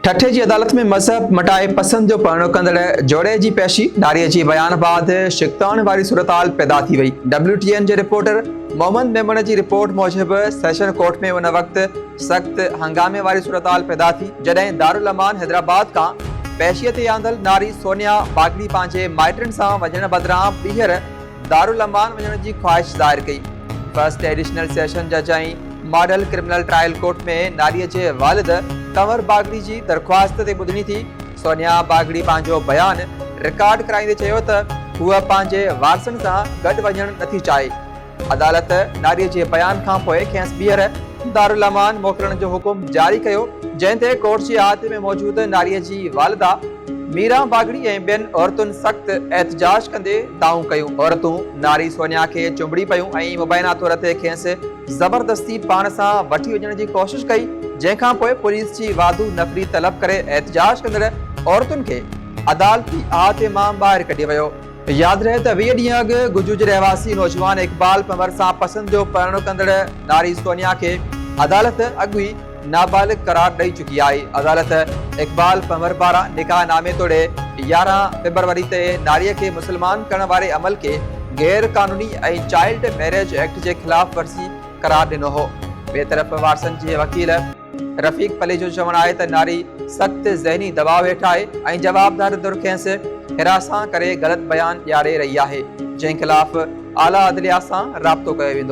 ٺٽي جي عدالت ۾ مذهب مٽائي پسند جو پرڻو ڪندڙ جوڙي جي پيشي ڌاري جي بيان بعد شڪتاڻ واري صورتحال پيدا ٿي وئي، ڊبليو ٽي اين جي رپورٽر محمد ميمڻ جي رپورٽ موجب سيشن ڪورٽ ۾ ان وقت سخت هنگامي واري صورتحال پيدا ٿي جڏهن دارالامان حيدرآباد کان پيشي تي آندل ناري سونيا باگڙي پنهنجي مائٽن سان وڃڻ بدران ٻيهر دارالامان وڃڻ جي خواهش ظاهر ڪئي. فرسٽ ايڊيشنل سيشن جج ۽ ماڊل ڪرمنل ٽرائل ڪورٽ ۾ ناريء جي والد ڪنور باگڙي جي درخواست تي ٻڌڻي ٿي. سونيا باگڙي پنهنجو بيان رڪارڊ ڪرائيندي چيو ته هوء پنهنجي وارثن سان گڏ وڃڻ نٿي چاهي. عدالت ناريء جي بيان کانپوء کيس ٻيهر دارالامان موڪلڻ جو حڪم جاري ڪيو، جنهن تي ڪورٽ جي احاطي ۾ موجود ناريء جي والده ميران باگڙي ۽ ٻين عورتن سخت احتجاج ڪندي دانهون ڪيون. عورتون ناري سونيا کي چنبڙي پيون ۽ مبينا طور تي کيس زبردستي پاڻ سان وٺي وڃڻ جي ڪوشش ڪئي، جنهن کانپوء پوليس جي واڌو نفري طلب ڪري احتجاج ڪندڙ عورتن کي عدالتي احاطي مان ٻاهر ڪڍي ويو. ياد رهي ته ويهه ڏينهن اڳ گجو جي رهواسي نوجوان اقبال پنور سان پسند جو پرڻو ڪندڙ ناري سونيا کي عدالت اڳ ئي نابالغ قرار ڏئي چڪي آهي، عدالت اقبال پنهور پاران نڪاح نامي توڙي يارهن فبروري تي ناري کي مسلمان ڪرڻ واري عمل کي غير قانوني ۽ چائلڊ ميريج ايڪٽ جي خلاف ورزي قرار ڏنو هو ٻئي طرف وارثن جي وڪيل رفيق پليجو چوڻ آهي ته ناري سخت ذهني دٻاء هيٺ آهي ۽ جوابدار ڌر کيس هراسان ڪري غلط بيان ڏياري رهي آهي جنهن خلاف اعليٰ عدليه سان رابطو ڪيو ويندو.